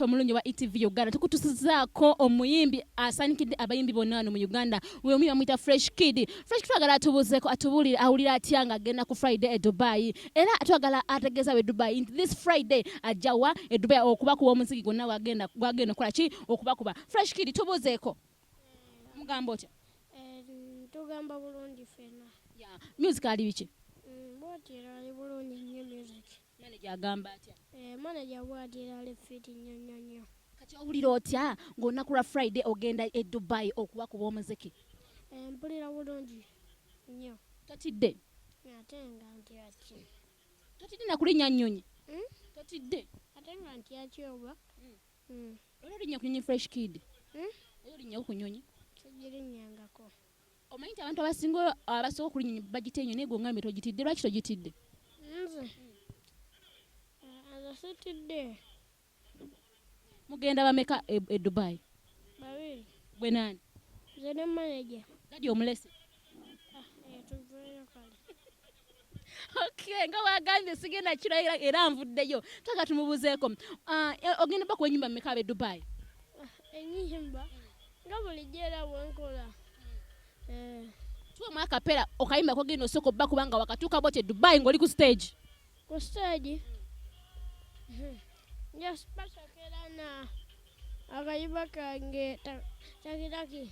omulungi wa etv uganda tukutusizaako omuyimbi asanikidde abayimbi bonna wano mu uganda we omuyimbi amuyita fresh kid fresh kid twagala atubuuzeko atubulire awulira atya nga agenda ku friday e dubai era twagala ategeeza we dubai nti this friday ajjawa e dubai okubakuba omuziki gwonna gwagenda okukola ki okubakuba fresh kid tubuuzeeko mugamba otya eh, tugamba bulungi fena music ali biki mm, bwatira ali bulungi nnyo music manaja agamba atya eh, manaja bwatira ali fiti nnyo nnyo nnyo kati owulira otya ng'olunaku lwa friday ogenda e dubai okuba kuba omuziki eh, mpulira bulungi nnyo totidde ate nga ntyaki totidde nakulinya nnyonyi hmm? totidde ate nga ntyaki oba hmm. Mm. Era olinya ku nyonyi fresh kid. Mm? Era olinya ku nyonyi. Tegirinyangako. Omanyi nti abantu abasinga abasooka okulinya nyonyi bagite enyo naye gwe ongambe togitidde lwaki togitidde? Nze. Nze sitidde. Mugenda bameka e, e Dubai? Babiri. Gwe nani? Nze ne manager. Gadi omulese. Ah, eh, tuveeyo kale. okay nga wagambye sigenda kiro era nvuddeyo twagala tumubuuzeeko ah, e, ogenda bakuwa enyumba mumeka be dubai ah, enyumba nga bulijjo era wenkola eh. tuwe mwakapera okayimba kogenda osooka obba kubanga wakatuuka boti e dubai ngaoli ku stage ku stage hmm. njaspasakera na akayimba kange takitaki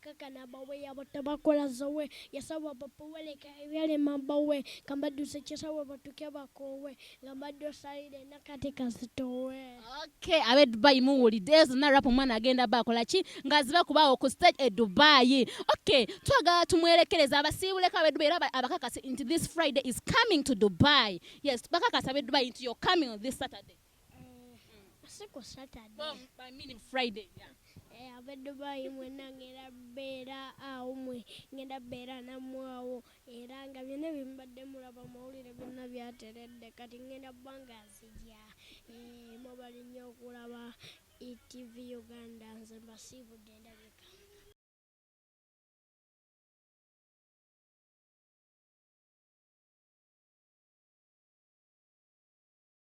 kakana bawe yabata bakola zowe yasawa bapoweleka ebyalema bawe nga badduse kisawe batuke bakoowe nga badde osalire nakati kazitowe okay abe dubai muwulidde ezo narap omwana agenda ba akola ki nga ziba kubaawo ku stage e dubai okay twagala tumwerekereza abasiibuleko abe dubai era abakakasi nti this friday is coming to dubai yes bakakasa abe dubai nti you're coming on this saturday siku Saturday. I mean Friday. Yeah. Eh, abadde bayimu enanga era beera awo mwe ngenda beera namwe awo era nga byonna byemubadde mulaba mawulire byonna byateredde kati ngenda bbanga nzija eh, mubali nnyo okulaba etv uganda nze mbasiibudde endabika